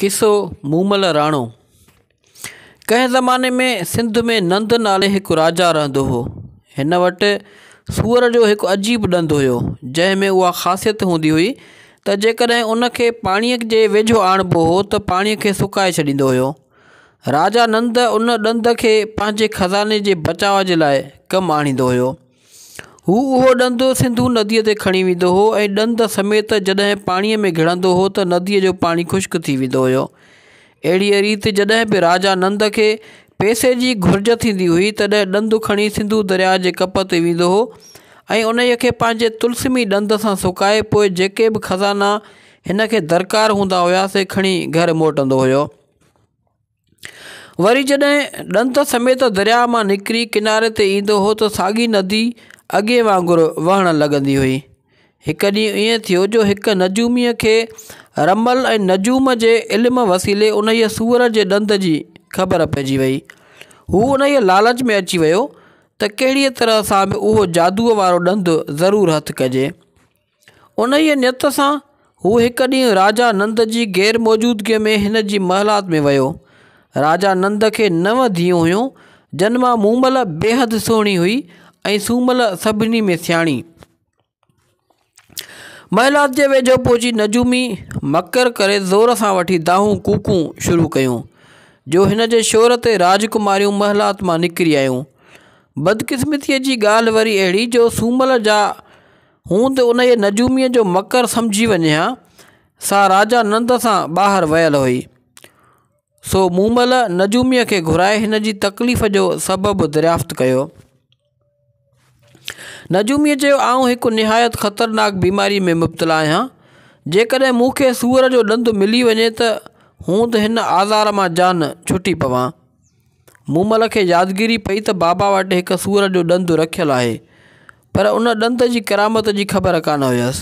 قصو، مومل راڻو، ڪنهن زماني ۾ سنڌ ۾ نند نالي هڪ راجا رهندو هو. هن وٽ سوئر جو هڪ عجيب ڏند هيو، جنهن ۾ اها خاصيت هوندي هئي ته جيڪڏهن ان کي پاڻيء جي ويجهو آڻبو هو ته پاڻيء کي سڪائي ڇڏيندو هيو. راجا نند ان ڏند کي پنهنجي خزاني جي بچاء جي لاء ڪم آڻيندو هيو. هو اهو ڏند سنڌو نديء تي کڻي ويندو هو ۽ ڏند سميت جڏهن پاڻيء ۾ گهڙندو هو ته نديء جو پاڻي خشڪ ٿي ويندو هيو. اهڙيء ريت جڏهن به راجا نند کي پئسي جي گهرج ٿيندي هئي، تڏهن ڏند کڻي سنڌو درياء جي ڪپ تي ويندو هو ۽ انهيء کي پنهنجي طلسمي ڏند سان سڪائي پوء جيڪي به خزانا هن کي درڪار هوندا هيا سي کڻي گهر موٽندو هيو. وري جڏهن ڏنت سميت درياء مان نڪري ڪناري تي ايندو هو ته ساڳي ندي اڳي وانگر وهڻ لڳندي هئي هڪ ڏينهن ائين ٿيو جو هڪ نجومي کي رمل ۽ نجوم جي علم وسيلي انهيء سوئر جي ڏند جي خبر پئجي وئي هو انهيء لالچ ۾ اچي ويو ته ڪهڙيء طرح سان به اهو جادوء وارو ڏند ضرور هٿ ڪجي انهيء نيت سان هو هڪ ڏينهن راجا نند جي غير موجودگيء ۾ هن جي محلات ۾ ويو. راجا نند کي نو ڌيئون هيون، جن مان مومل بيحد سهڻي هئي ۽ سومل سڀني ۾ سياڻي. محلات جي ويجهو پهچي نجومي مڪر ڪري زور سان وٺي دانهون ڪوڪون شروع ڪيون، جو هن جي شور تي راجڪماريون محلات مان نڪري آيون. بدقسمتيء جي ڳالهه وري اهڙي جو سومل جا هون ته انهيء نجوميء جو مڪر سمجهي وڃي ها. سا راجا نند سان ٻاهر ويل هئي. سو مون مل نجوميء کي گهرائي هن جي تڪليف جو سبب دريافت ڪيو. نجوميء چيو، آئون هڪ نهايت خطرناڪ بيماريء ۾ مبتلا آهيان. جيڪڏهن مون کي سوئر جو ڏند ملي وڃي ته هون ته هن آزار مان جان ڇٽي پوان. مومل کي يادگيري پئي ته بابا وٽ هڪ سور جو ڏند رکيل آهي پر ان ڏند جي ڪرامت جي خبر ڪانه هيس.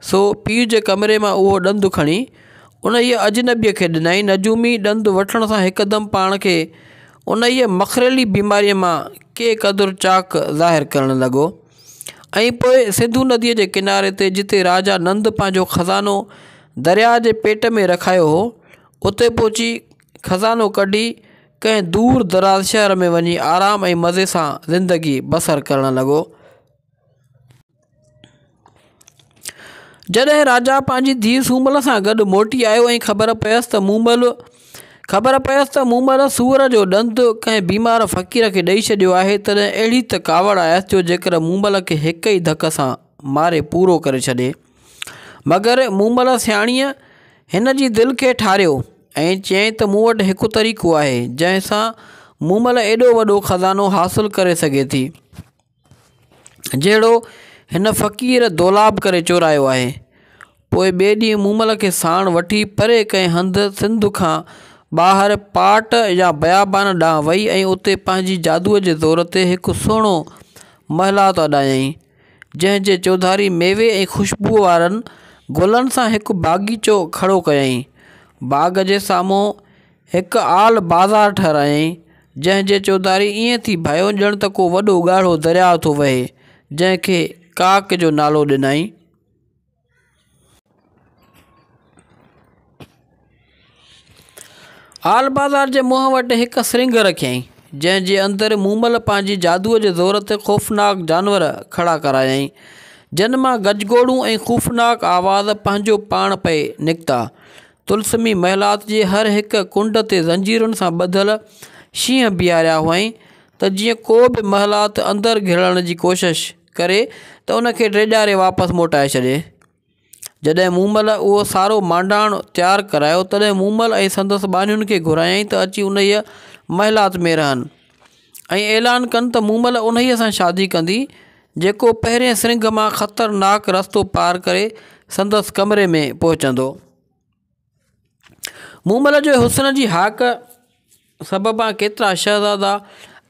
سو پيء جي ڪمري مان اهو ڏند کڻي انهيء اجنبيء کي ڏنائين. نجومي ڏند وٺڻ سان هڪدم پاڻ کي انهيء مخريلي بيماريء مان ڪي قدر چاڪ ظاهر ڪرڻ لڳو ۽ پوء سنڌو نديء جي ڪناري تي جتي راجا نند پنهنجو خزانو درياء جي پيٽ ۾ رکايو هو، اتي پهچي، خزانو ڪڍي ڪنهن دور دراز شهر ۾ وڃي آرام ۽ مزي سان زندگي بسر ڪرڻ لڳو. جڏهن راجا پنهنجي ڌيء سومل سان گڏ موٽي آيو ۽ خبر پيس ته مومل سوئر جو ڏند ڪنهن بيمار فقير کي ڏئي ڇڏيو آهي تڏهن اهڙي ته ڪاوڙ آيس جو جيڪر مومل کي هڪ ئي ڌڪ سان ماري پورو ڪري ڇڏي. مگر مومل سياڻيء هن جي دل کي ٺاريو. ۽ چيائين ته مون وٽ هڪ طريقو آهي جنهن سان مومل ايڏو وڏو خزانو حاصل ڪري سگهي ٿي جهڙو هن فقير دولاب ڪري چورايو آهي پوء ٻئي ڏينهن مومل کي ساڻ وٺي پري ڪنهن هنڌ سنڌ کان ٻاهر پاٽ يا بيابان ڏانهن وئي ۽ اتي پنهنجي جادوء جي زور تي هڪ سهڻو محلات اڏايائين جنهن جي چوڌاري ميوي ۽ خوشبوء وارن گلن سان هڪ باغيچو کڙو ڪيائين. باغ جي سامهون هڪ آل بازار ٺهرايائين، جنهن جي چوڌاري ائين ٿي ڀانئيو ڄڻ ته ڪو وڏو ڳاڙهو درياء ٿو وهي، جنهن کي ڪاڪ جو نالو ڏنائين. آل بازار جي منهن وٽ هڪ سرنگهه رکيائين، جنهن جي اندر مومل پنهنجي جادوء جي زور تي خوفناڪ جانور کڙا ڪرايائين، جن مان گجگوڙون ۽ خوفناڪ آواز پنهنجو پاڻ پئي نڪتا. طلسمي محلات جي هر هڪ ڪنڊ تي زنجيرن سان ٻڌل شينهن بيهاريا هئائين، ته جيئن ڪو به محلات اندر گهڙڻ جي ڪوشش. ڪري ته ان کي ڊيڄاري واپس موٽائي ڇڏي جڏهن مومل اهو سارو مانڊاڻ تيار ڪرايو تڏهن مومل ۽ سندس ٻانهين کي گهرايائين ته اچي انهيء محلات ۾ رهن ۽ اعلان ڪن ته مومل انهيء سان شادي ڪندي جيڪو پهرين سرنگهه مان خطرناڪ رستو پار ڪري سندس ڪمري ۾ پهچندو مومل جي حسن جي هاڪ سببان ڪيترا شهزادا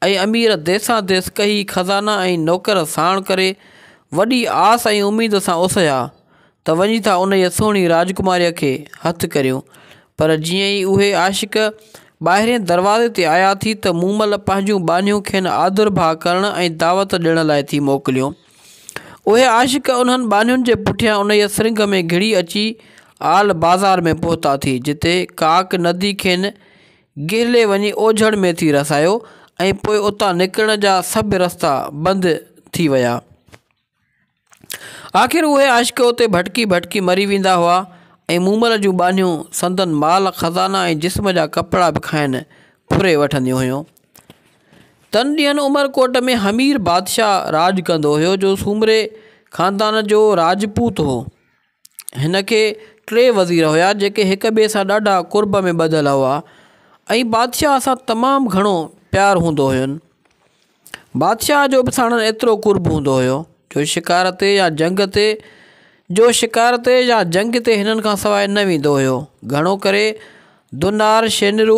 ۽ امير ديسان ديس ڪهي خزانا ۽ نوڪر ساڻ ڪري وڏي آس ۽ اميد سان اسهيا ته وڃي ٿا انهيء سهڻي راجڪماريء کي هٿ ڪريون پر جيئن ئي اهي عاشق ٻاهرئين دروازي تي آيا ٿي ته مومل پنهنجون ٻانهيون کين آڌرڀاء ڪرڻ ۽ دعوت ڏيڻ لاء ٿي موڪليون اهي عاشق انهن ٻانهين جي پٺيان انهيء سرنگهه ۾ گهڙي اچي آل بازار ۾ پهتا ٿي، جتي ڪاڪ ندي کين گهلي وڃي اوجهڙ ۾ ٿي رسايو ۽ پوء اتان نڪرڻ جا سڀ رستا بند ٿي ويا. آخر اهي عاشق اتي ڀٽڪي ڀٽڪي مري ويندا هئا ۽ مومل جون ٻانهيون سندن مال خزانا ۽ جسم جا ڪپڙا به کائن ڦري وٺنديون هيون. تن ڏينهن عمرڪوٽ ۾ حمير بادشاهه راڄ ڪندو هيو جو سومري خاندان جو راجپوت هو هن کي ٽي وزير هيا جيڪي هڪ ٻئي سان ڏاڍا قرب ۾ ٻڌل هئا ۽ بادشاهه سان تمام گهڻو پيار هوندو هين بادشاهه جو به ساڻن ايترو قرب هوندو هيو جو شڪار تي يا جنگ تي جو شڪار تي يا جنگ تي هنن کان سواء نه ويندو هيو گهڻو ڪري دونار شينرو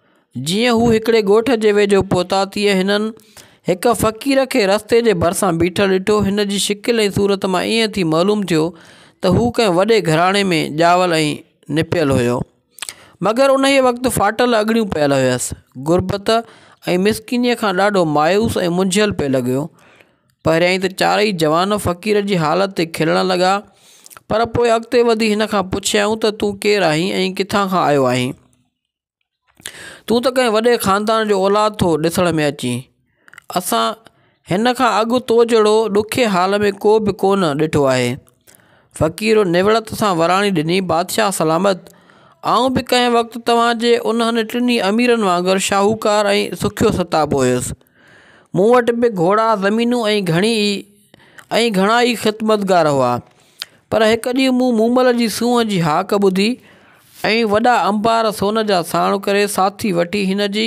جيئن هو هڪڙي ڳوٺ جي ويجهو پهتا تيئن هنن هڪ فقير کي رستي جي ڀرسان بيٺل ڏٺو. هن جي شڪل ۽ صورت مان ائين ٿي معلوم ٿيو ته هو ڪنهن وڏي گهراڻي ۾ ڄاول ۽ نپيل هيو. مگر انهيء وقت ڦاٽل اڳڙيون پيل هيس. غربت ۽ مسڪينيء کان ڏاڍو مايوس ۽ منجهيل پئي لڳيو. پهريائين ته چارئي جوان فقير جي حالت تي کلڻ لڳا، پر پوء اڳتي وڌي هن کان پڇيائون ته تون ڪير آهين ۽ ڪٿان کان آيو آهين؟ تون ته ڪنهن وڏي خاندان جو اولاد ٿو ڏسڻ ۾ اچين اسان هن کان اڳ تو جهڙو ڏکي حال ۾ ڪو به ڪونه ڏٺو آهي فقير نوڙت سان وراڻي ڏني بادشاهه سلامت آئون به ڪنهن وقت توهانجي انهن ٽنهي اميرن وانگر شاهوڪار ۽ سکيو ستابو هيس مون وٽ به گهوڙا زمينون ۽ گهڻي ئي ۽ گهڻا ئي خدمتگار هئا. پر هڪ ڏينهن مون مومل جي سونهن جي هاڪ ٻڌي ۽ وڏا انبار سون جا ساڻ ڪري ساٿي وٺي هن جي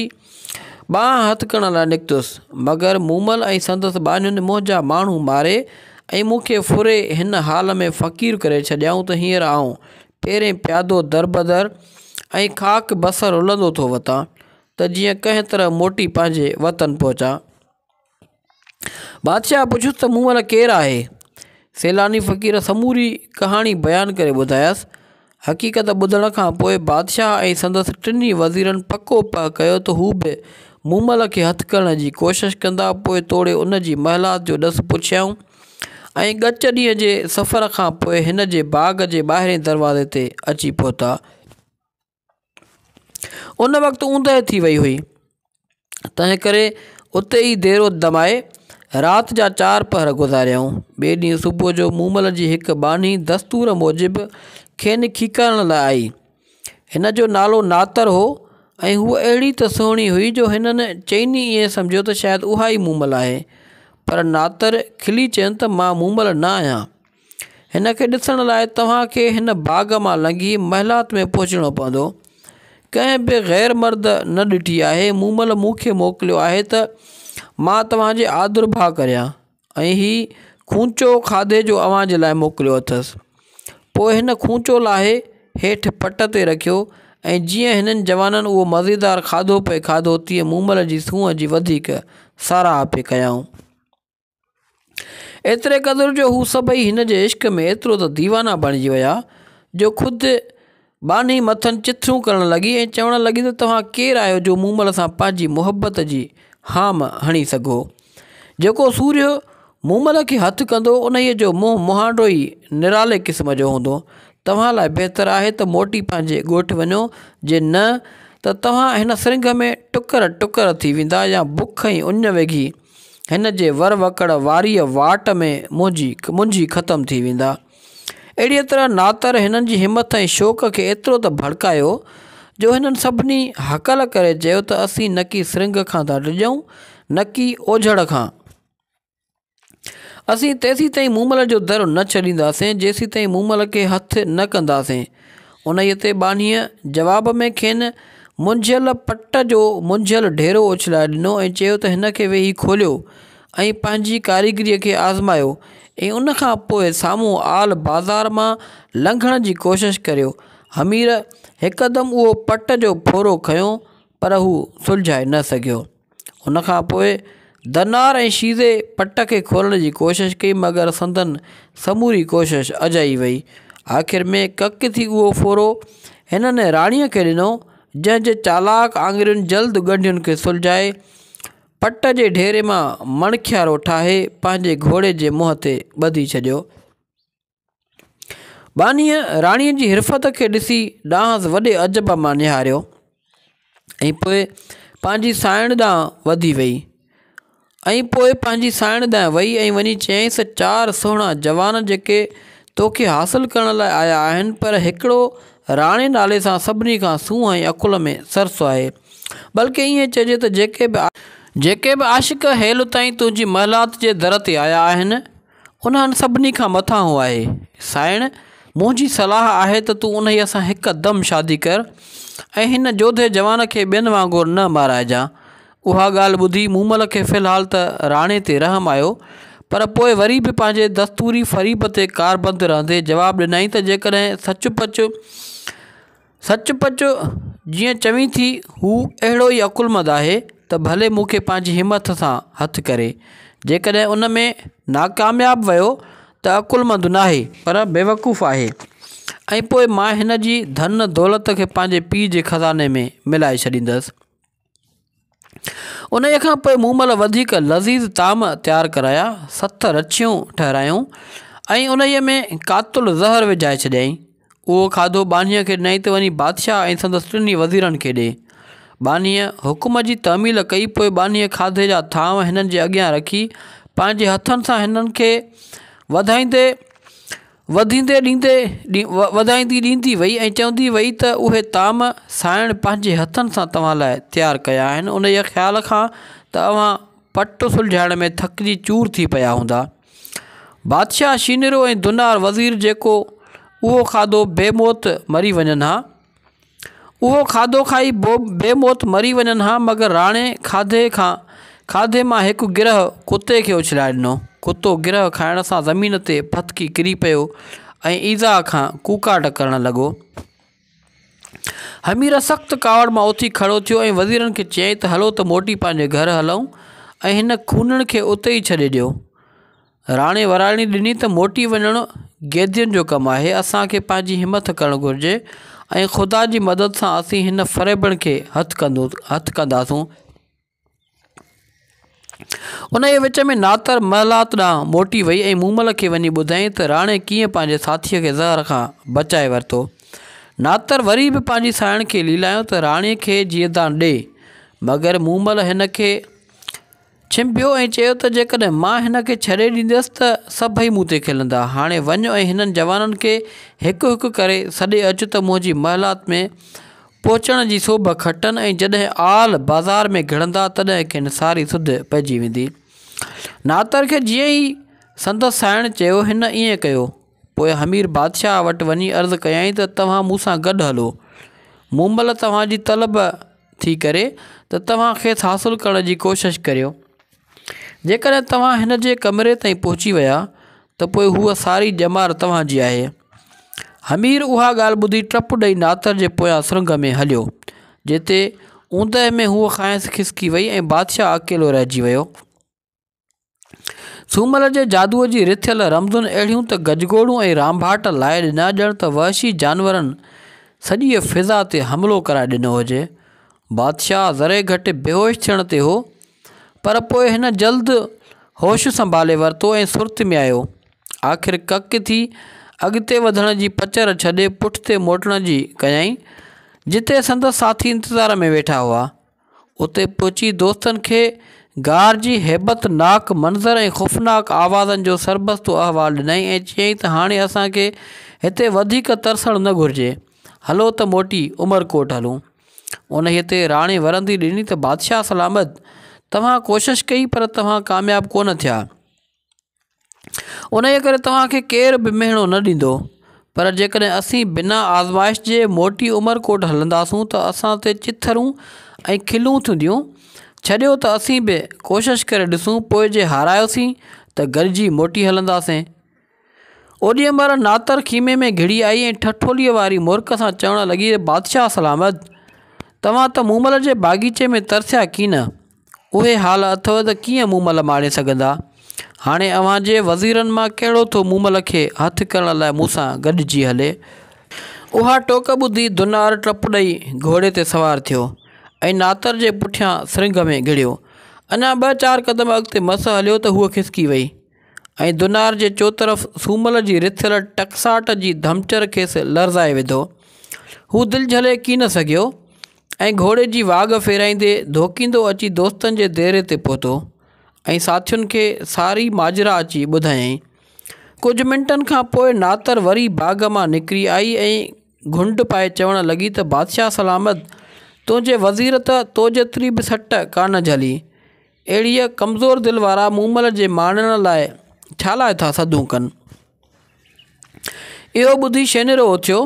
ٻانهن هٿ ڪرڻ لاء نڪتس. مگر مومل ۽ سندس ٻانهين منهنجا ماڻهو ماري ۽ مون کي ڦري هن حال ۾ فقير ڪري ڇڏيائون ته هينئر آئون پيرين پيادو دربدر ۽ خاڪ بصر رلندو ٿو وتان ته جيئن ڪنهن طرح موٽي پنهنجي وطن پهچان. بادشاهه پڇيس ته مون وٽ ڪير آهي؟ سيلاني فقير سموري ڪهاڻي بيان ڪري ٻڌايس. حقيقت ٻڌڻ کان پوء بادشاهه ۽ سندس ٽنهي وزيرن پڪو پهه ڪيو ته هو به مومل کي هٿ ڪرڻ جي ڪوشش ڪندا. پوء توڙي ان جي محلات جو ڏس پڇيائون ۽ ڳچ ڏينهن جي سفر کان پوء هن جي باغ جي ٻاهرئين دروازي تي اچي پهتا. ان وقت اوندهه ٿي وئي هئي تنهن ڪري اتي ئي ديرو دمائي رات جا چار پهر گذاريائون ٻئي ڏينهن صبح جو مومل جي هڪ ٻانهي دستور موجب کين کيڪارڻ لاء آئي هن جو نالو ناتر هو ۽ هوء اهڙي ته سهڻي هئي جو هنن چئني ائين سمجهيو ته شايد اها ئي مومل آهي پر ناتر کلي چين ته مان مومل نه آهيان هن کي ڏسڻ لاء توهان کي هن باغ مان لنگهي محلات ۾ پهچڻو پوندو. ڪنهن به غير مرد نه ڏٺي آهي. مومل مون کي موڪليو آهي ته مان توهان جي آڌرڀاء ڪريان ۽ هي خونچو کاڌي جو اوهان جي لاء موڪليو اٿس. پوء هن کونچو لاهي هيٺ پٽ تي رکيو ۽ جيئن هنن جوانن اهو مزيدار کاڌو پئي کاڌو تيئن مومل جي سونهن جي وڌيڪ ساراهه پئي ڪيائون. ايتري قدر جو هو سڀئي هن جي عشق ۾ ايترو ته ديوانا بڻجي ويا جو خود ٻانهي مٿن چٿرون ڪرڻ لڳي ۽ چوڻ لڳي ته توهان ڪير آهيو جو مون مل سان پنهنجي محبت جي هام هڻي سگهو. جيڪو سورهيو مون مل کي هٿ ڪندو انهيء جو منهن مهانڊو ئي نرالي قسم جو هوندو. توهان لاء بهتر آهي ته موٽي پنهنجي ڳوٺ وڃو جي نه ته توهان هن سرنگهه ۾ ٽڪر ٽڪر ٿي ويندا يا بک ۽ اڃ وگهي هن جي ور وڪڙ واريء واٽ ۾ منهنجي منجهي ختم ٿي ويندا. اهڙيء طرح ناتر هنن جي همٿ ۽ شوق کي ايترو ته ڀڙڪايو، جو هنن سڀني هڪل ڪري چيو ته اسين نڪي سرنگهه کان ٿا ڊڄون، نڪي اوجهڙ کان. اسين تيسيتائين مومل جو در نه ڇڏينداسين، جيسيتائين مومل کي هٿ نه ڪنداسين. انهيء تي ٻانهيء جواب ۾ کين منجهيل پٽ جو منجهيل ڍيرو اڇلائي ڏنو ۽ چيو ته هن کي ويهي کوليو ۽ پنهنجي ڪاريگريء کي آزمايو ۽ ان کان پوء سامهون آل بازار مان لنگهڻ جي ڪوشش ڪريو. حمير هڪدم اهو پٽ جو ڦورو کنيو پر هو سلجهائي نه سگهيو. ان کان پوء درنار ۽ شيزي پٽ کي کولڻ جي ڪوشش ڪئي مگر سندن سموري ڪوشش اجائي وئي آخر ۾ ڪڪ ٿي اهو ڦورو هنن راڻي کي ڏنو جنهن جي چالاڪ آڱرين جلد ڳنڍين کي سلجهائي پٽ جي ڍيري مان مڻکيارو ٺاهي پنهنجي گهوڙي جي منهن تي ٻڌي ڇڏيو ٻانهيء راڻيء جي حرفت کي ڏسي ڏانهس وڏي عجب مان نهاريو ۽ پوء پنهنجي سانئڻ ڏانهن وڌي ويئي ۽ پوء پنهنجي سانئڻ ڏانهن ويئي ۽ وڃي چيائينس ته چار سهڻا جوان جيڪي تو کي حاصل ڪرڻ لاء آيا آهن پر هڪڙو راڻي نالي سان سڀني کان سونهن ۽ عقل ۾ سرس آهي بلڪ ائين چئجي ته جيڪي به عاشق هيل تائين تنهنجي محلات جي در تي آيا آهن انهن سڀني کان مٿان هو آهي. سائڻ! منهنجي صلاح آهي ته تون انهيء سان هڪ دم شادي ڪر ۽ هن جوڌي جوان کي ٻين وانگر نه مارائجان. اها ڳالهه ٻڌي مومل کي في الحال ته راڻي تي رحم آيو، پر پوء وري به پنهنجي دستوري فريب تي ڪاربند رهندي جواب ڏنائين ته جيڪڏهن سچ پچ سچ پچ جيئن چوين ٿي هو اهڙو ئي عقلمند آهي ته ڀلي مون کي پنهنجي همٿ سان هٿ ڪري. جيڪڏهن ان ۾ ناڪامياب ويو ته عقلمند ناهي پر بيوقوف آهي ۽ پوء مان هن جي ڌن دولت کي پنهنجي پيء جي خزاني ۾ ملائي ڇڏيندس. انهيء کان پوء مون مل وڌيڪ لذيذ طعام تيار ڪرايا، ست رڇيون ٺهرايائون ۽ انهيء ۾ قاتل زهر وجهائي ڇڏيائين. اهو کاڌو ٻانهيء کي ڏنائين ته وڃي بادشاهه ۽ سندس ٽنهي وزيرن کي ڏي. ٻانهيء حڪم جي تعميل ڪئي، پوء ٻانهيء کاڌي جا ٿانو هنن جي اڳيان رکي، پنهنجي هٿن سان هنن کي وڌائيندي وڌيندي ڏيندي وڌائيندي ڏيندي وئي ۽ چوندي وئي ته اهي طعام سانئڻ پنهنجي هٿن سان توهان لاء تيار ڪيا آهن انهيء خيال کان ته اوهان پٽ سلجهائڻ ۾ ٿڪجي چور ٿي پيا هوندا. بادشاهه شينرو ۽ دنار وزير جيڪو اهو کاڌو بي موت مري وڃن ها. اهو کاڌو کائي بي موت مري وڃن ها مگر راڻي کاڌي کان کاڌي مان هڪ گرهه ڪتي کي اڇلائي ڏنو. ڪتو گرهه کائڻ سان زمين تي ڦٿڪي ڪري پيو ۽ ايذاء کان ڪوڪاٽ ڪرڻ لڳو. همير سخت ڪاوڙ مان اٿي کڙو ٿيو ۽ وزيرن کي چيائين ته هلو ته موٽي پنهنجي گهر هلون ۽ هن خونڻ کي اتي ئي ڇڏي ڏيو. راڻي وراڻي ڏني ته موٽي وڃڻ قيدين جو ڪم آهي، اسان کي پنهنجي همٿ ڪرڻ گهرجي ۽ خدا جي مدد سان اسين هن فريبڻ کي هٿ ڪنداسون. انهيء وچ ۾ ناتر محلات ڏانهن موٽي وئي ۽ مومل کي وڃي ٻڌائين ته راڻي ڪيئن پنهنجي ساٿيء کي زهر کان بچائي ورتو. ناتر وري به پنهنجي ساهيڻ کي ليلايو ته راڻي کي جيئدان ڏي، مگر مومل هن کي. ڇنڀيو ۽ چيو ته جيڪڏهن مان هن کي ڇڏي ڏينديس ته سڀئي مون تي کلندا. هاڻي وڃ ۽ هنن جوانن کي هڪ هڪ ڪري سڏي اچ ته منهنجي محلات ۾ پهچڻ جي سوڀ کٽن ۽ جڏهن آل بازار ۾ گهڙندا تڏهن کين ساري سڌ پئجي ويندي. ناتر کي جيئن ئي سندس سائڻ چيو هن ائين ڪيو. پوء حمير بادشاهه وٽ وڃي عرض ڪيائين ته توهان مون سان گڏ هلو. مون مئل توهان جي طلب ٿي ڪري ته توهان کيس حاصل ڪرڻ جي ڪوشش ڪريو. جيڪڏهن توهان هن جي ڪمري تائين پهچي ويا ته پوء هوء ساري ڄمار توهان جي آهي. حمير اها ڳالهه ٻڌي ٽپ ڏئي ناتر جي پويان سرنگهه ۾ هليو، جتي اوندهه ۾ هوء کانئس کسڪي وئي ۽ بادشاهه اڪيلو رهجي ويو. سومل جي جادوء جي رٿيل رمزون اهڙيون ته گجگوڙون ۽ رانڀاٽ لائي ڏنا، ڄڻ ته وحشي جانورن سڄيء فضا تي حملو ڪرائي ڏنو هجي. بادشاهه ذري گهٽ بيهوش ٿيڻ تي هو، پر پوء هن جلد هوش سنڀالي ورتو ۽ سرت ۾ آيو. آخر ڪڪ ٿي اڳتي وڌڻ جي پچر ڇڏي پٺتي موٽڻ جي ڪيائين، جتي سندس ساٿي انتظار ۾ ويٺا هئا. اتي پهچي دوستن کي غار جي هيبت ناڪ منظر ۽ خوفناڪ آوازن جو سربستو احوال ڏنائين ۽ چيائين ته هاڻي اسان کي هتي وڌيڪ ترسڻ نه گهرجي، هلو ته موٽي عمرڪوٽ هلون. انهيء تي راڻي ورندي ڏني ته بادشاهه سلامت، توهان ڪوشش ڪئي پر توهان ڪامياب ڪونه ٿيا. ان جي ڪري توهان کي ڪير به مهڻو نه ڏيندو پر جيڪڏهن اسين بنا آزمائش جي موٽي عمر ڪوٽ هلنداسون ته اسان تي چٿرون ۽ کلون ٿينديون ڇڏيو ته اسين به ڪوشش ڪري ڏسون پوء جي هارايوسين ته گڏجي موٽي هلنداسين اوڏي مهل ناتر خيمي ۾ گهڙي آئي ۽ ٺٺوليء واري مورک سان چوڻ لڳي بادشاهه سلامت توهان ته مومل جي باغيچي ۾ ترسيا ڪين اهي حال اٿو ته ڪيئن مومل ماڻي سگهندا؟ هاڻي اوهان جي وزيرن مان ڪهڙو ٿو مومل کي هٿ ڪرڻ لاء مون سان گڏجي هلي؟ اها ٽوڪ ٻڌي دنار ٽپ ڏئي گهوڙي تي سوار ٿيو ۽ ناتر جي پٺيان سرنگهه ۾ گهڙيو. اڃا ٻه چار قدم اڳتي مس هليو ته هوء کسڪي وئي ۽ دنار جي چوطرف سومل جي رٿيل ٽڪساٽ جي ڌمچر کيس لرزائي وڌو. هو دل جهلي ڪين سگهيو. ۽ گهوڙي جي واڳ ڦيرائيندي ڌوڪيندو اچي دوستن جي ديري تي پهتو ۽ ساٿين کي ساري ماجرا اچي ٻڌايائين. ڪجهه منٽن کان پوء ناتر وري باغ مان نڪري آئي ۽ گهنڊ پائي چوڻ لڳي ته بادشاهه سلامت تنهنجي وزير ته تو جيتري به سٽ ڪانه جهلي. اهڙيء ڪمزور دل وارا مومل جي ماڻڻ لاء ڇالاء ٿا سڌون ڪن. اهو ٻڌي شينهرو اٿيو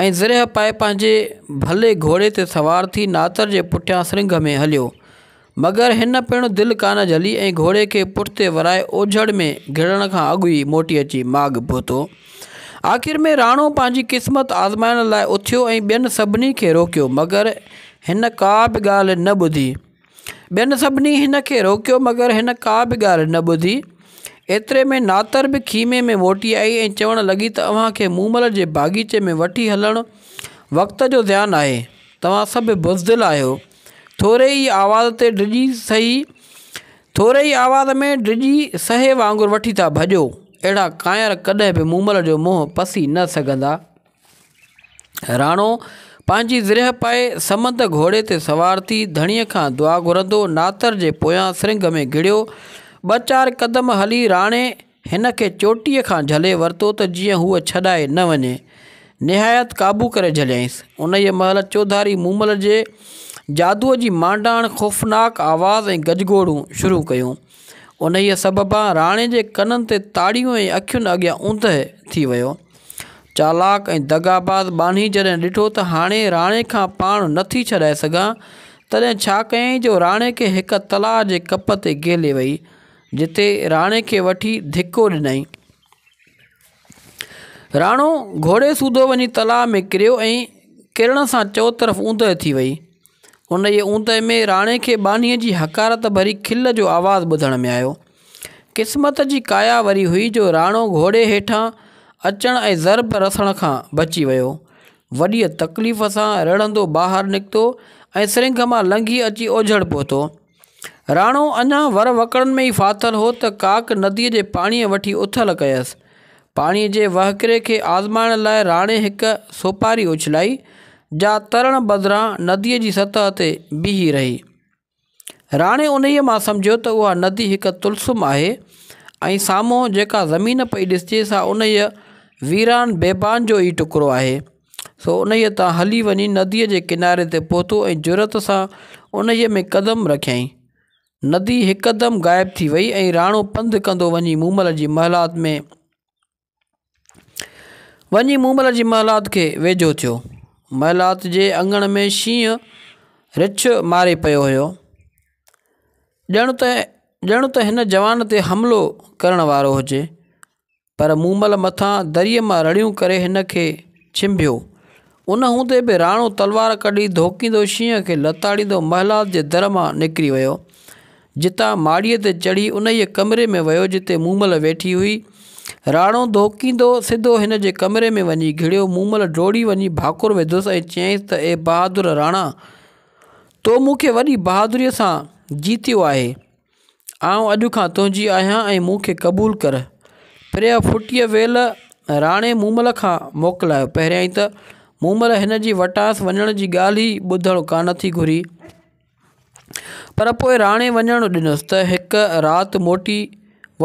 ۽ زرهه پائي پنهنجي ڀلي گهوڙي تي سوار ٿي ناتر جي پٺيان سرنگهه ۾ هليو. مگر هن پڻ دل ڪانه جهلي ۽ گهوڙي کي پٺتي ورائي اوجهڙ ۾ گهڙڻ کان اڳ ئي موٽي اچي ماڳ پهتو. آخر ۾ راڻو پنهنجي قسمت آزمائڻ لاء اٿيو ۽ ٻين سڀني کي روڪيو مگر هن ڪا به ڳالهه نه ٻڌي. ٻين سڀني هن کي روڪيو مگر هن ڪا به ڳالهه نه ٻڌي. ايتري ۾ ناتر به خيمي ۾ موٽي آئي ۽ چوڻ لڳي ته اوهان کي مومل جي باغيچي ۾ وٺي هلڻ وقت جو زيان آهي. توهان سڀ بزدل آهيو. ٿوري ئي آواز تي ڊڄي سهي ٿوري ئي آواز ۾ ڊڄي سهي وانگر وٺي ٿا ڀڄو. اهڙا ڪانئر ڪڏهن به مومل جو منهن پسي نه سگهندا. راڻو پنهنجي زرهه پائي سمند گهوڙي تي سوار ٿي ڌڻيء کان دعا گهرندو ناتر جي پويان سرنگ ۾ گهڙيو. ٻه چار قدم هلي راڻي هن کي چوٽيء کان جهلي ورتو ته جيئن هوء ڇڏائي نه وڃي. نهايت قابو ڪري جهليائينس. انهيء مهل چوڌاري مومل جي جادوء جي مانڊاڻ خوفناڪ آواز ۽ گجگوڙون شروع ڪيون. انهيء سببان راڻي جي ڪنن تي تاڙيون ۽ اکين اڳيان اوندهه ٿي ويو. چالاڪ ۽ دغاباز ٻانهي جڏهن ڏٺو ته هاڻي راڻي کان پاڻ نه ٿي ڇڏائي سگهان، تڏهن ڇا ڪيائين جو راڻي کي هڪ تلاء جي ڪپ تي گهيلي ويئي، جتي راڻي کي وٺي ڌڪو ڏنائين. راڻو گهوڙي سوڌو وڃي تلاء ۾ ڪريو ۽ ڪرڻ سان چوطرف اوندهه ٿي ويئي. ان جي اوندهه ۾ راڻي کي ٻانهيء جي حقارت ڀري کل جو آواز ٻڌڻ ۾ آيو. قسمت جي ڪايا وري هئي جو راڻو گهوڙي هيٺان اچڻ ۽ ضرب رسڻ کان بچي ويو. وڏيء تڪليف سان رڙهندو ٻاهر نڪتو ۽ سرنگهه مان لنگهي اچي اوجهڙ پهتو. راڻو اڃا ور وڪڙن ۾ ئي ڦاٿل هو ته ڪاڪ نديء جي پاڻيء وٺي اٿل ڪيس. پاڻيء جي وهڪري کي آزمائڻ لاء راڻي هڪ سوپاري اڇلائي، جا ترڻ بدران نديء جي سطح تي بيهي رهي. راڻي انهيء مان سمجهيو ته اها ندي هڪ طلسم آهي ۽ سامهون جيڪا زمين پئي ڏسجي سا انهيء ويران بيبان جو ئي ٽڪرو آهي. سو انهيء تان هلي وڃي نديء جي ڪناري تي پهتو ۽ جرئت سان انهيء ۾ قدم رکيائين. ندي هڪدم غائب ٿي ويئي ۽ راڻو پنڌ ڪندو وڃي مومل جي محلات ۾، وڃي مومل جي محلات کي ويجهو ٿيو. محلات جي اڱڻ ۾ شينهن رڇ ماري پيو هيو. ڄڻ ته، ڄڻ ته هن جوان تي حملو ڪرڻ وارو هجي. پر مومل مٿان دريء مان رڙيون ڪري هن کي ڇنڀيو. ان هوندي به راڻو تلوار ڪڍي ڌوڪيندو شينهن کي لتاڙيندو محلات جي در مان نڪري ويو. جتان ماڙيء تي چڙهي انهيء ڪمري ۾ ويو جتي مومل ويٺي هئي. راڻو ڌوڪيندو سڌو هن جي ڪمري ۾ وڃي گهڙيو. مومل ڊوڙي وڃي ڀاڪر وڌوس ۽ چيائينس ته اي بهادر راڻا! تو مون کي وڏي بهادريء سان جيتيو آهي. آئون اڄ کان تنهنجي آهيان ۽ مون کي قبول ڪر پري جا ڦٽيء ويل راڻي مومل کان موڪلايو پهريائين ته مومل هن جي وٽانئس وڃڻ جي ڳالهه ئي ٻڌڻ ڪانه ٿي گهري پر پوء راڻي وڃڻ ڏنس ته هڪ رات موٽي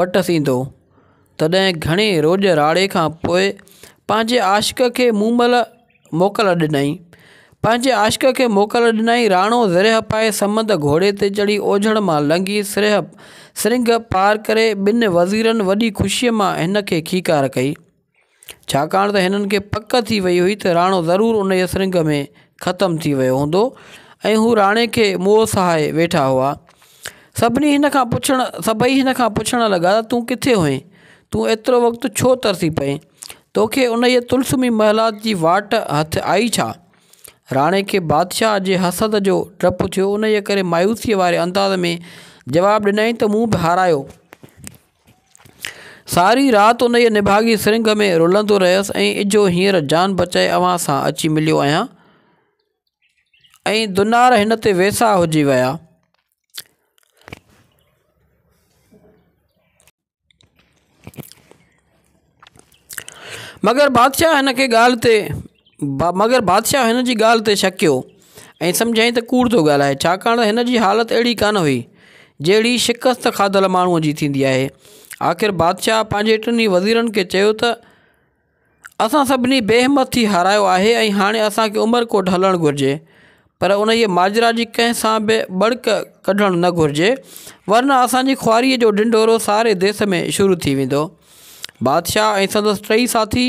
وٽس ايندو تڏهن گهڻي روڄ راڙي کان پوء پنهنجي عاشق کي مومل موڪل ڏنائين پنهنجي عاشق کي موڪل ڏنائين راڻو زرهه پائي سمند گهوڙي تي چڙهي اوجهڙ مان لنگهي سرهه سرنگهه پار ڪري ٻن وزيرن وڏي خوشيء مان هن کي کيڪار ڪئي ڇاڪاڻ ته هنن کي پڪ ٿي وئي هئي ته راڻو ضرور انهيء سرنگهه ۾ ختم ٿي ويو هوندو ۽ هو راڻي کي موء سهائي ويٺا هئا سڀني هن کان پڇڻ سڀئي هن کان پڇڻ لڳا ته تون ڪٿي هئين تون ايترو وقت ڇو ترسي پئين توکي انهيء طلسمي محلات جي واٽ هٿ آئي ڇا؟ راڻي کي بادشاهه جي حسد جو ڊپ ٿيو، انهيء ڪري مايوسيء واري انداز ۾ جواب ڏنائين ته مون به هارايو. ساري رات انهيء نڀاڳي سرنگهه ۾ رلندو رهيس ۽ اجهو هينئر جان بچائي اوهان سان اچي مليو آهيان ۽ دنار هن تي ويساهه هجي ويا. مگر بادشاهه هن کي ڳالهه تي مگر بادشاهه هن جي ڳالهه تي شڪيو ۽ سمجهيائين ته ڪوڙ ٿو ڳالهائي ڇاڪاڻ ته هن جي حالت اهڙي ڪانه هئي جهڙي شڪست کاڌل ماڻهوء جي ٿيندي آهي آخر بادشاهه پنهنجي ٽنهي وزيرن کي چيو ته اسان سڀني بي همت ٿي هارايو آهي ۽ هاڻي اسان کي عمرڪوٽ هلڻ گهرجي پر انهيء ماجرا جي ڪنهن سان به ٻڙڪ ڪڍڻ نه گهرجي ورنه اسان جي خواريء جو ڍنڍورو ساري ديس ۾ شروع ٿي ويندو. بادشاهه ۽ سندس ٽئي ساٿي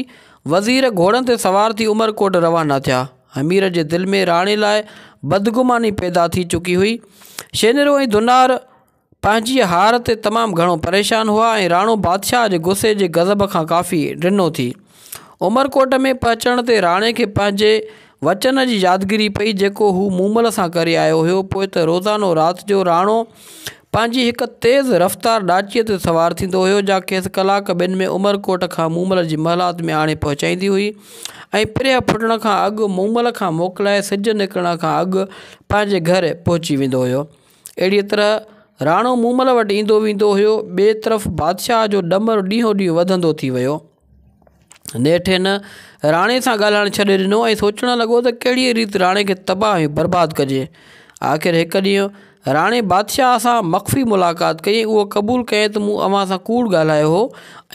وزير گهوڙن تي سوار ٿي عمرڪوٽ روانا ٿيا. همير جي دل ۾ راڻي لاء بدگماني پيدا ٿي چڪي هئي. شينرو ۽ ڌنار، پنهنجي هار تي تمام گهڻو پريشان هئا ۽ راڻو بادشاهه جي غصي جي غضب کان ڪافي ڊنو ٿي. عمرڪوٽ ۾ پهچڻ تي راڻي کي پنهنجي وچن جي يادگيري پئي جيڪو هو مومل سان ڪري آيو هيو پوء ته روزانو رات جو راڻو پنهنجي هڪ تيز رفتار ڏاچيء تي سوار ٿيندو هيو جا کيس ڪلاڪ ٻن ۾ عمرڪوٽ کان مومل جي محلات ۾ آڻي پهچائيندي هئي ۽ پريهه ڦٽڻ کان اڳ مومل کان موڪلائي سج نڪرڻ کان اڳ پنهنجي گهر پهچي ويندو هيو. اهڙيء طرح راڻو مومل وٽ ايندو ويندو هيو. ٻئي طرف بادشاهه جو ڏمر ڏينهون ڏينهن وڌندو ٿي ويو. نيٺ هن راڻي سان ڳالهائڻ ڇڏي ڏنو ۽ سوچڻ لڳو ته ڪهڙيء ريت راڻي کي تباهه ۽ برباد ڪجي. آخر هڪ ڏينهن راڻي بادشاهه سان مخفي ملاقات ڪئي ۽ اهو قبول ڪيائين ته مون اوهان سان ڪوڙ ڳالهايو هو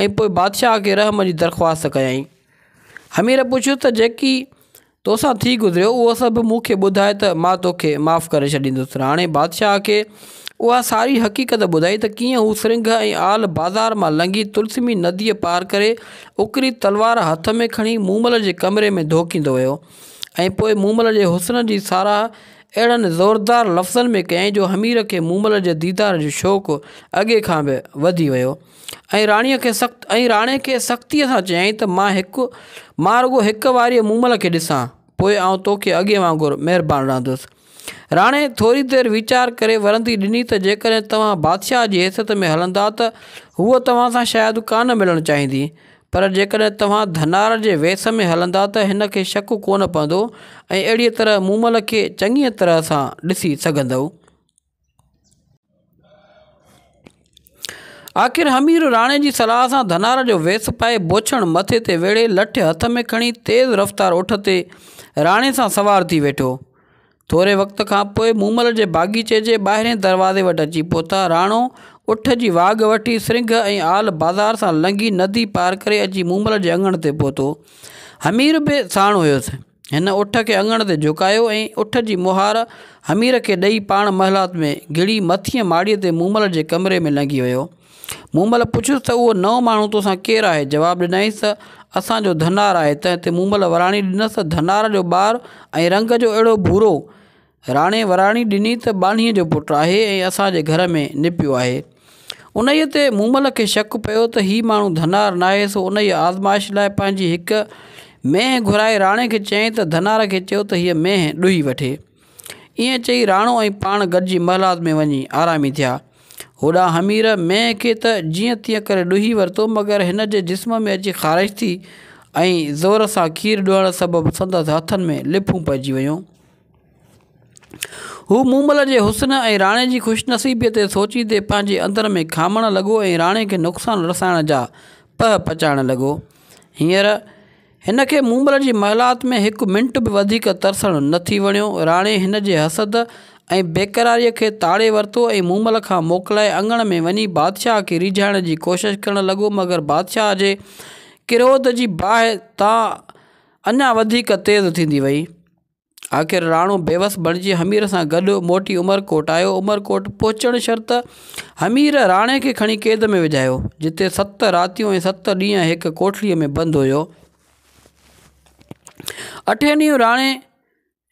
۽ پوء بادشاهه کي رحم جي درخواست ڪيائين. حمير پڇيس ته جيڪي تو سان ٿي گذريو اهو سڀ مون کي ٻڌاء ته مان تو کي معاف ڪري ڇڏيندس. راڻي بادشاهه کي اها ساري حقيقت ٻڌائي ته ڪيئن هو سرنگهه ۽ آل بازار مان لنگهي تلسمي نديء پار ڪري اڪري تلوار هٿ ۾ کڻي مومل جي ڪمري ۾ ڌوڪيندو ويو ۽ پوء مومل جي حسن جي ساراهه اهڙن زوردار لفظن ۾ ڪيائين جو حمير کي مومل جي ديدار جو شوق اڳي کان به وڌي ويو ۽ راڻي کي سخت ۽ راڻي کي سختيء سان چيائين ته مان هڪ مان رڳو هڪ واريء مومل کي ڏسان، پوء آئون توکي اڳي وانگر مهربان رهندس. راڻي ٿوري دير ويچار ڪري ورندي ڏني ته جيڪڏهن توهان بادشاهه جي حيثيت ۾ هلندا ته هوء توهان سان شايد ڪا نه ملڻ چاهيندي، پر جيڪڏهن توهان ڌنار جي ويس ۾ هلندا ته هن کي شڪ ڪونه پوندو ۽ اهڙيء طرح مومل کي چڱيء طرح سان ڏسي سگهندؤ. آخر همير راڻي جي صلاح سان ڌنار جو ويس پائي، بوڇڻ مٿي تي ويڙهي، لٺ هٿ ۾ کڻي، تيز رفتار اٺ تي راڻي سان سوار ٿي ويٺو. ٿوري وقت کان پوء مومل جي باغيچي جي ٻاهرين دروازي وٽ اچي پهتا. راڻو اٺ جي واڳ وٺي، سرنگهه ۽ آل بازار سان لنگهي، ندي پار ڪري اچي مومل جي اڱڻ تي پهتو. همير به ساڻ هيس. هن اٺ کي اڱڻ تي جهڪايو ۽ اٺ جي مهار حمير کي ڏئي پاڻ محلات ۾ گهڙي مٿينء ماڙيء تي مومل جي ڪمري ۾ لنگهي ويو. مومل پڇيس ته اهو نئون ماڻهو توسان ڪير آهي؟ جواب ڏنائينس ته اسان جو ڌنار آهي. تنهن تي مومل وراڻي ڏنس ته ڌنار جو ٻار ۽ رنگ جو اهڙو ڀورو! راڻي وراڻي ڏني ته ٻانهيء جو پٽ آهي ۽ اسان جي گهر ۾ نپيو آهي. انهيء تي مومل کي شڪ پيو ته هي ماڻهو ڌنار ناهي، سو انهيء آزمائش لاء پنهنجي هڪ مينهن گهرائي راڻي کي چيائين ته ڌنار کي چئو ته هيء مينهن ڏوهي وٺي. ائين چئي راڻو ۽ پاڻ گڏجي محلات ۾ وڃي آرامي ٿيا. هوڏانهن حمير مينهن کي ته جيئن تيئن ڪري ڏوهي ورتو، مگر هن جي جسم ۾ اچي خارش ٿي ۽ زور سان کير ڏوهڻ سبب سندس هٿن ۾ لڦون پئجي ويون. هو مومل جي حسن ۽ راڻي جي خوش نصيبيء تي سوچيندي پنهنجي اندر ۾ کامڻ لڳو ۽ راڻي کي نقصان رسائڻ جا پهه پچائڻ لڳو. هينئر هن کي مومل جي محلات ۾ هڪ منٽ به وڌيڪ ترسڻ نه ٿي وڻيو. راڻي هن جي حسد ۽ بيقراريء کي تاڙي ورتو ۽ مومل کان موڪلائي اڱڻ ۾ وڃي بادشاهه کي ريجهائڻ جي ڪوشش ڪرڻ لڳو مگر بادشاهه جي ڪروڌ جي باهه تان اڃا وڌيڪ تيز ٿيندي وئي. آخر راڻو بيوس بڻجي همير سان گڏ موٽي عمرڪوٽ آيو. عمرڪوٽ پهچڻ شرط همير راڻي کي کڻي قيد ۾ وجهايو، جتي ست راتيون ۽ ست ڏينهن هڪ ڪوٺڙيء ۾ بند هيو. اٺين ڏينهن راڻي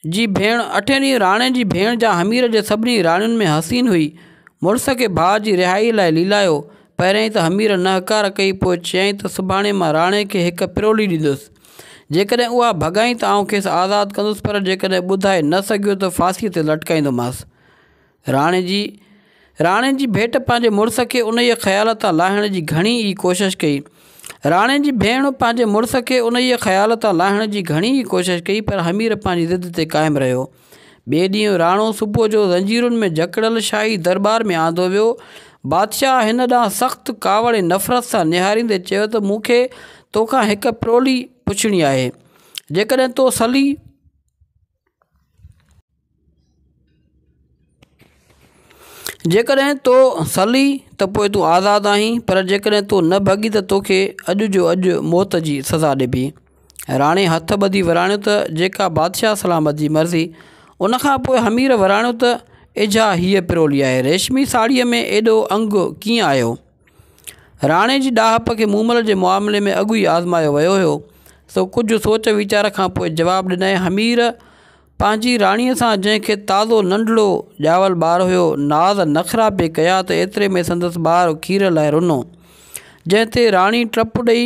جي ڀيڻ اٺين ڏينهن راڻي جي ڀيڻ جا همير جي سڀني راڻين ۾ حسين هئي. مڙس کي ڀاء جي رهائيء لاء ليلايو. پهريائين ته همير نهڪار ڪئي، پوء چيائين ته سڀاڻي مان راڻي کي هڪ پرولي ڏيندس. جيڪڏهن اها ڀڳائين ته آئون کيس آزاد ڪندس، پر جيڪڏهن ٻڌائي نه سگهيو ته ڦاسيء تي لٽڪائيندومانس. راڻي جي راڻي جي ڀيٽ پنهنجي مڙس کي انهيء خيال تان لاهڻ جي گهڻي ئي ڪوشش ڪئي. راڻي جي ڀيڻ پنهنجي مڙس کي انهيء خيال تان لاهڻ جي گهڻي ئي ڪوشش ڪئي، پر حمير پنهنجي ضد تي قائم رهيو. ٻئي ڏينهن راڻو صبح جو زنجيرن ۾ جڪڙيل شاهي درٻار ۾ آندو ويو. بادشاهه هن ڏانهن سخت ڪاوڙ ۽ نفرت سان نهاريندي چيو ته مون کي تو کان هڪ پرولي پڇڻي آهي. جيڪڏهن تو سلي. جيڪڏهن تو سلي ته پوء تون آزاد آهين، پر جيڪڏهن تون نه ڀڳين ته تو کي اڄ جو اڄ موت جي سزا ڏبي. راڻي هٿ ٻڌي وراڻيو ته جيڪا بادشاهه سلامت جي مرضي. ان کان پوء همير وراڻيو ته اجها هيء پرولي آهي، ريشمي ساڙهيء ۾ ايڏو انگ ڪيئن آيو؟ راڻي جي ڏاهپ کي مومل جي معاملي ۾ اڳ ئي آزمايو ويو هيو، سو ڪجهه سوچ ويچار کان پوء جواب ڏنائين همير پنهنجي راڻيء سان جنهن کي تازو ننڍڙو ڄاول ٻار هيو، ناز نخرا پئي ڪيا ته ايتري ۾ سندس ٻار کير لاء رنو، جنهن تي راڻي ٽپ ڏئي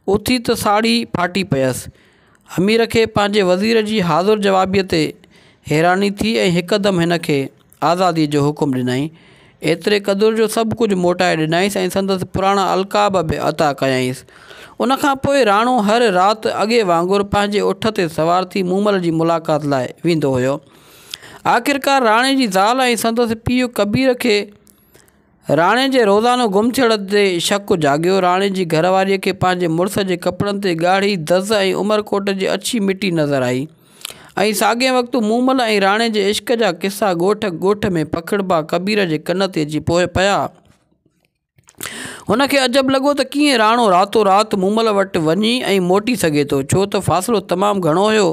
اٿي ته ساڙهي ڦاٽي پيس. امير کي پنهنجي وزير جي حاضر جوابيء تي حيراني ٿي ۽ هڪدم هن کي. آزاديء جو حڪم ڏنائين. ايتري قدر جو سڀ ڪجهه موٽائي ڏنائينس ۽ سندس پراڻا القاب به عطا ڪيائينس. ان کان پوء راڻو هر رات اڳي وانگر پنهنجي اٺ تي سوار ٿي مومل جي ملاقات لاء ويندو هيو. آخرڪار راڻي جي زال ۽ سندس پيء ڪبير کي. راڻي جي روزانو گم ٿيڻ تي شڪ جاڳيو. راڻي جي گهر واريء کي پنهنجي مڙس جي ڪپڙن تي ڳاڙهي دز ۽ عمرڪوٽ جي اڇي مٽي نظر آئي ۽ ساڳئي وقت مومل ۽ راڻي جي عشق جا قصا ڳوٺ ڳوٺ ۾ پکڙبا ڪبير جي ڪن تي اچي پيا. هن کي عجب لڳو ته ڪيئن راڻو راتو رات مومل وٽ وڃي ۽ موٽي سگهي ٿو، ڇو ته فاصلو تمام گهڻو هيو.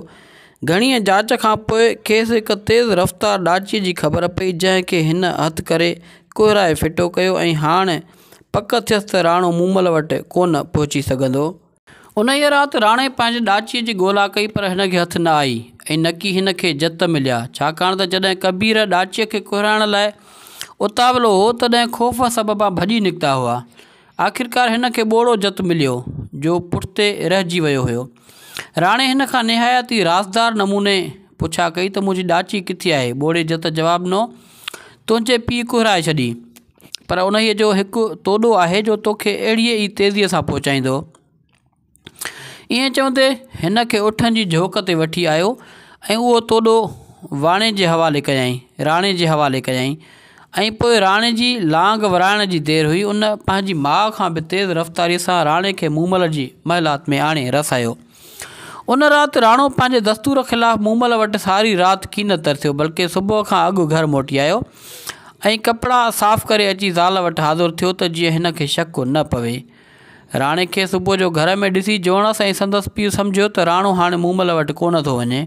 گهڻيء جاچ کان پوء کيس هڪ تيز رفتار ڏاچيء جي خبر پئي، جنهن کي هن هٿ ڪري ڪهرائي ڦٽو ڪيو ۽ هاڻ پڪ ٿيس ته راڻو مومل وٽ ڪونه پهچي سگهندو. انهيء رات راڻي پنهنجي ڏاچيء جي ڳولا ڪئي پر هن کي هٿ نه آئي ۽ نڪي هن کي جت مليا، ڇاڪاڻ ته جڏهن ڪبير ڏاچيء کي ڪهرائڻ لاء اتاولو هو، تڏهن خوف سببان ڀڄي نڪتا هئا. آخرڪار هن کي ٻوڙو جت مليو، جو پٺتي رهجي ويو هيو. راڻي هن کان نهايت ئي رازدار نموني پڇا ڪئي ته منهنجي ڏاچي ڪٿي آهي؟ ٻوڙي جت جواب ڏنو، تنهنجي پيء ڪهرائي ڇڏي، پر انهيء جو هڪ توڏو آهي جو توکي اهڙيء ئي تيزيء سان پهچائيندو. ائين چوندي هن کي اٺن جي جهوڪ تي وٺي آيو ۽ اهو توڏو واڻي جي حوالي ڪيائين راڻي جي حوالي ڪيائين ۽ پوء راڻي جي لانگ ورائڻ جي دير هئي ان پنهنجي ماء کان به تيز رفتاريء سان راڻي کي مومل جي محلات ۾ آڻي رسايو ان رات راڻو پنهنجي دستور خلاف مومل وٽ ساري رات ڪي نه ترسيو بلڪه صبح کان اڳ گهر موٽي آيو ۽ ڪپڙا صاف ڪري اچي زال وٽ حاضر ٿيو ته جيئن هن کي شڪ نه پوي راڻي کي صبح جو گهر ۾ ڏسي جوڻس ۽ سندس پيء سمجهيو ته راڻو هاڻي مومل وٽ ڪونه ٿو وڃي.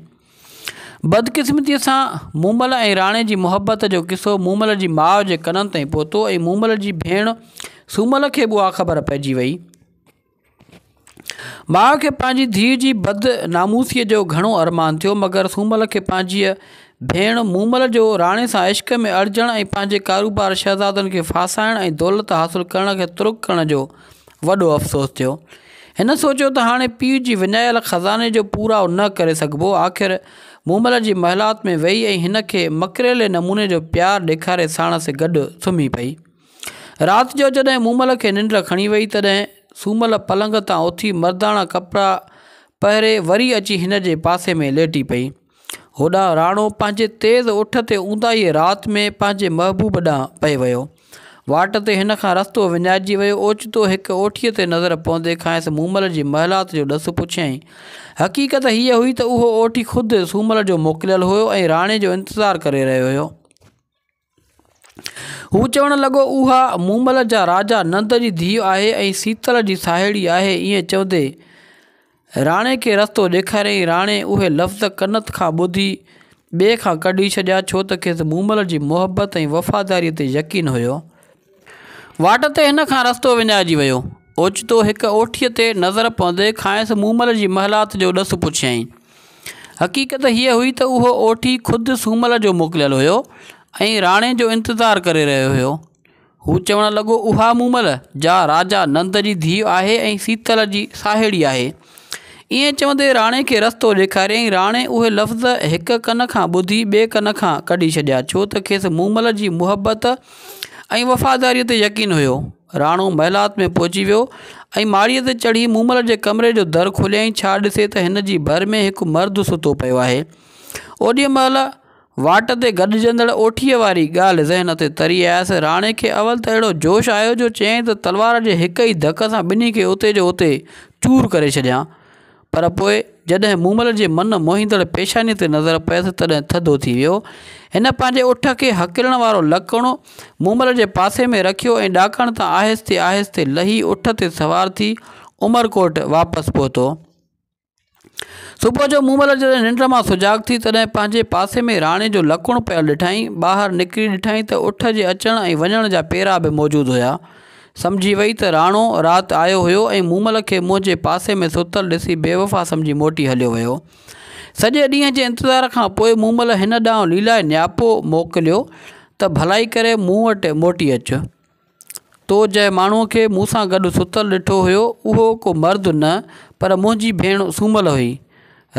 بدقسمتيء سان مومل ۽ راڻي جي محبت جو قصو مومل جي ماء جي ڪنن تائين پهتو ۽ مومل جي ڀيڻ سومل کي به اها خبر پئجي وئي. ماء کي پنهنجي ڌيء جي بد ناموسيء جو گهڻو ارمان ٿيو، مگر سومل کي پنهنجيء ڀيڻ مومل جو راڻي سان عشق ۾ اڙجڻ ۽ پنهنجي ڪاروبار شهزادن کي ڦاسائڻ ۽ دولت حاصل ڪرڻ کي ترڪ ڪرڻ جو وڏو افسوس ٿيو. هن سوچيو ته هاڻي پيء جي وڃايل خزاني جو پورائو نه ڪري سگهبو. آخر مومل جي محلات ۾ ويئي ۽ هن کي مڪريلي نموني جو پيار ڏيکاري ساڻس گڏ سمهي پئي. رات جو جڏهن مومل کي ننڊ کڻي وئي تڏهن سومل پلنگ تان اٿي مرداڻا ڪپڙا پهري وري اچي هن جي پاسي ۾ ليٽي پئي. هوڏانهن راڻو پنهنجي تيز اٺ تي اونداهيء رات ۾ پنهنجي محبوب ڏانهن پئي ويو. واٽ تي هن کان رستو وڃائجي ويو. اوچتو هڪ اوٺيء تي نظر پوندي کانئس مومل جي محلات جو ڏس پڇيائين. حقيقت هيء هئي ته اهو اوٺي خود سومل جو موڪليل هيو ۽ راڻي جو انتظار ڪري رهيو هيو. هو چوڻ لڳو، اها مومل جا راجا نند جي ڌيء آهي ۽ سيتل جي ساهيڙي آهي. ائين چوندي راڻي کي رستو ڏيکاريائين. راڻي اهي لفظ ڪنت کان ٻڌي ٻئي کان ڪڍي ڇڏيا، ڇو ته کيس مومل جي محبت ۽ وفاداريء تي يقين هيو. واٽ تي هن کان رستو وڃائجي ويو. اوچتو هڪ اوٺيء تي نظر پوندي کانئس مومل جي محلات جو ڏس پڇيائين. حقيقت هيء هئي ته اهو اوٺي خود سومل جو موڪليل هيو ۽ راڻي جو انتظار ڪري رهيو هيو. هو چوڻ لڳو، اها مومل، جا راجا نند جي ڌيء آهي ۽ سيتل جي ساهيڙي آهي، ائين چوندي راڻي کي رستو ڏيکاريائين. راڻي اهي لفظ هڪ ڪن کان ٻڌي ٻئي ڪن کان ڪڍي ڇڏيا، ڇو ته کيس مومل جي محبت ۽ وفاداريء تي يقين هيو. راڻو محلات ۾ پهچي ويو ۽ ماڙيء تي چڙهي مومل جي ڪمري جو در کوليائين، ڇا ڏسي ته هن جي ڀر ۾ هڪ مرد ستو پيو آهي. اوڏي مهل. واٽ تي گڏجندڙ اوٺيء واري ڳالهه ذهن تي تري آيس. راڻي کي اول ته اهڙو جوش آيو جو چيائين ته تلوار جي هڪ ئي ڌڪ سان ٻنهي کي اتي جو اتي چور ڪري ڇڏيان. پر پوء جڏهن مومل جي من موهيندڙ پيشانيء تي نظر پيس تڏهن ٿڌو ٿي ويو. هن پنهنجي اٺ کي هڪلڻ وارو لڪڻ مومل جي پاسي ۾ رکيو ۽ ڏاڪڻ تان آهستي آهستي لهي اٺ تي سوار ٿي عمرڪوٽ واپس پهتو. صبح جو مومل جڏهن ننڊ مان سجاڳ ٿي تڏهن پنهنجي پاسي ۾ راڻي جو لڪڻ پيل ڏٺائين. ٻاهر نڪري ڏٺائين ته اٺ جي اچڻ ۽ وڃڻ جا پيرا به موجود هيا. سمجهي وئي ته راڻو رات آيو هيو ۽ مومل کي منهنجي پاسي ۾ ستل ڏسي بيوفا سمجهي موٽي هليو ويو. سڄي ڏينهن جي انتظار کان پوء مومل هن ڏانهن ليلائي نياپو موڪليو ته ڀلائي ڪري مون وٽ موٽي اچ. تو جنهن ماڻهوء کي مون سان گڏ ستل ڏٺو هيو، اهو ڪو مرد نه، پر منهنجي ڀيڻ سومل هئي.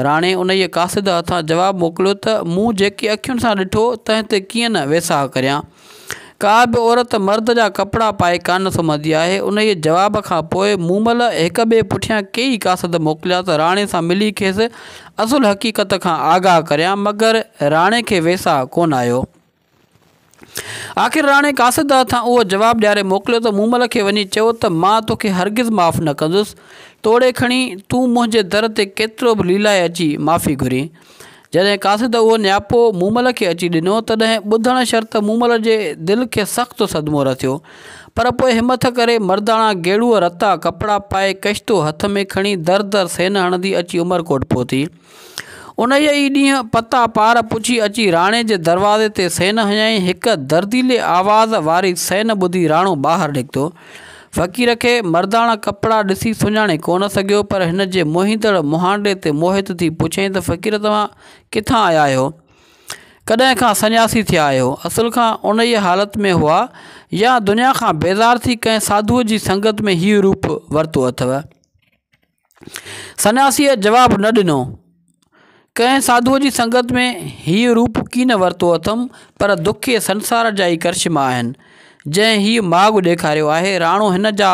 راڻي انهيء قاصد هٿان جواب موڪليو ته، مون جيڪي اکين سان ڏٺو، تنهن تي ڪيئن نه ويساهه ڪريان. ڪا به عورت مرد جا ڪپڙا پائي ڪانه سمهندي آهي. انهيء جواب کان پوء مومل هڪ ٻئي پٺيان ڪيئي قاصد موڪليا ته راڻي سان ملي کيس اصل حقيقت کان آگاهه ڪريان، مگر راڻي کي ويساهه ڪونه آيو. آخر راڻي قاصد داد کان اهو جواب ڏياري موڪليو ته مومل کي وڃي چئو ته مان توکي هرگز معاف نه ڪندس، توڙي کڻي تون منهنجي در تي ڪيترو به ليلائي اچي معافي گهرين. جڏهن قاصد اهو نياپو مومل کي اچي ڏنو، تڏهن ٻڌڻ شرط مومل جي دل کي سخت صدمو رسيو، پر پوء همٿ ڪري مرداڻا گيڙوء رتا ڪپڙا پائي ڪشتو هٿ ۾ کڻي در در سين هڻندي اچي عمرڪوٽ پهتي. انهيء ئي ڏينهن پتا پار پڇي اچي راڻي جي دروازي تي سين هنيائين. هڪ درديلي آواز واري سين ٻڌي راڻو ٻاهر نڪتو. فقير کي مرداڻا ڪپڙا ڏسي سڃاڻي ڪونه سگهيو، پر هن جي موهيندڙ مهانڊي تي موهت ٿي پڇيائين ته فقير توهان ڪٿان آيا آهيو؟ ڪڏهن کان سنياسي ٿيا آهيو؟ اصل کان انهيء حالت ۾ هئا يا دنيا کان بيزار ٿي ڪنهن ساڌوء جي سنگت ۾ هيء روپ ورتو اٿئو؟ سنياسيء جواب نه ڏنو. ڪنهن ساڌوء جي سنگت ۾ هيء روپ ڪين ورتو اٿم، پر دکي سنسار جا ئي ڪرشما آهن، جنهن هيء ماڳ ڏيکاريو آهي. راڻو هن جا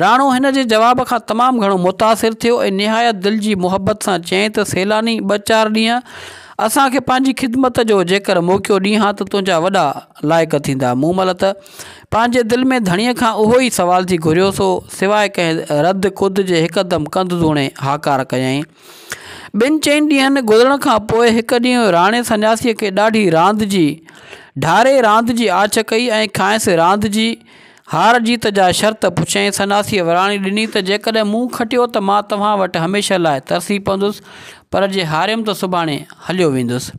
راڻو هن جي جواب کان تمام گهڻو متاثر ٿيو ۽ نهايت دل جي محبت سان چيائين ته سيلاني، ٻه چار ڏينهن اسان کي پنهنجي خدمت جو جيڪر موقعو ڏينهان ته تنهنجا وڏا لائق ٿيندا. مون ملت پنهنجي دل ۾ ڌڻيء کان اهو ئي سوال ٿي گهريو سو سواء ڪنهن رد ڪد جي هڪدم ڪنڌ ڌوڻي هاڪار ڪيائين. ٻن چئن ڏينهن گذرڻ کان پوء هڪ ڏينهن راڻي سنياسيء کي ڏاڍي راند جي ڍاري راند جي آڇ ڪئي ۽ کانئس راند جي هار جيت جا شرط پڇيائين. سنياسيء وراڻي ڏني ته جيڪڏهن مون کٽيو ته مان توهان وٽ هميشه لاء ترسي پوندس پر جي هاريم ته سڀاڻي هليو ويندس.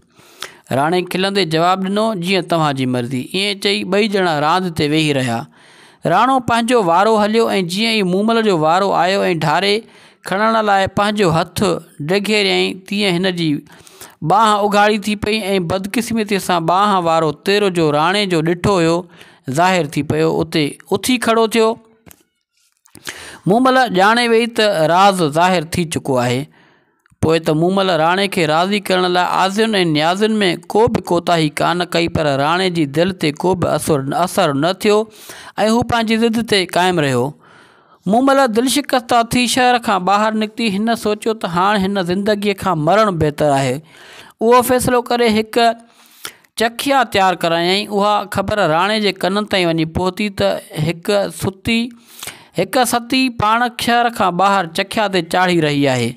راڻي کلندي جواب ڏنو، جيئن توهان جي مرضي. ائين چئي ٻئي ڄڻا راند تي ويهي رهيا. راڻو پنهنجو وارو هليو ۽ جيئن ئي مومل جو وارو آيو ۽ ڍاري کڻڻ لاء پنهنجو هٿ ڊگهيريائين تيئن هن جي ٻانهن اگهاڙي ٿي پئي ۽ بدقسمتيء سان ٻانهن وارو تير جو راڻي جو ڏٺو هيو ظاهر ٿي پيو. اتي اٿي کڙو ٿيو. مون مل ڄاڻي ويئي ته راز ظاهر ٿي چڪو آهي. پوء ته مون مل راڻي کي راضي ڪرڻ لاء آزين ۽ نيازين ۾ ڪو به ڪوتاهي ڪانه ڪئي پر راڻي جي دل تي ڪو به اثر نه ٿيو ۽ هو پنهنجي ضد تي قائم رهيو. مون مل دلشڪسته ٿي شهر کان ٻاهر نڪتي هن سوچيو ته هاڻ هن زندگي کان مرڻ بهتر آهي. اهو فيصلو ڪري هڪ چکيا تيار ڪرايائين. اها خبر راڻي جي ڪنن تائين وڃي پهتي ته هڪ ستي هڪ ستي پاڻ کهر کان ٻاهر چکيا تي چاڙهي رهي آهي.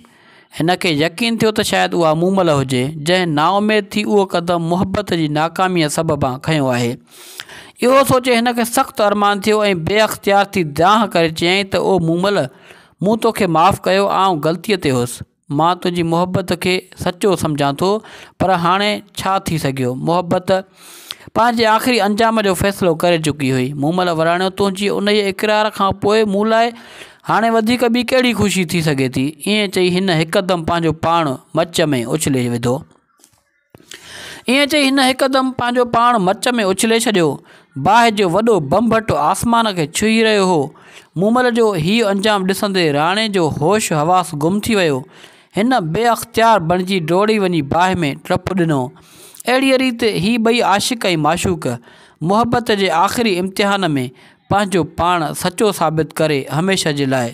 هن کي يقين ٿيو ته شايد اها مومل هجي، جنهن نااميد ٿي اهو قدم محبت جي ناڪاميء سببان کنيو آهي. اهو سوچي هن کي سخت ارمان ٿيو ۽ بي اختيار ٿي دانهن ڪري چيائين ته او مومل! مون توکي معاف ڪيو، آئون غلطيء تي هوس. مان تنهنجي محبت کي سچو سمجهان ٿو پر هاڻي ڇا ٿي سگهيو محبت پنهنجي آخري انجام جو فيصلو ڪري چڪي هئي مومل وراڻيو تنهنجي انهيء اقرار کان پوء مون لاء هاڻي وڌيڪ ٻي ڪهڙي خوشي ٿي سگهي ٿي ائين چئي هن هڪدم پنهنجو پاڻ مچ ۾ اڇلي وڌو ائين چئي هن هڪدم پنهنجو پاڻ مچ ۾ اڇلي ڇڏيو. باهه جو وڏو بنبٽ آسمان کي ڇهي رهيو هو. مومل جو هيء انجام ڏسندي راڻي جو هوش حواس گم ٿي ويو. هن بي اختيار بڻجي ڊوڙي وڃي باهه ۾ ٽپ ڏنو. اهڙيء ريت هي ٻئي عاشق ۽ معشوق، محبت جي آخري امتحان ۾ پنهنجو پاڻ سچو ثابت ڪري هميشه جي لاء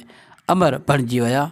امر بڻجي ويا.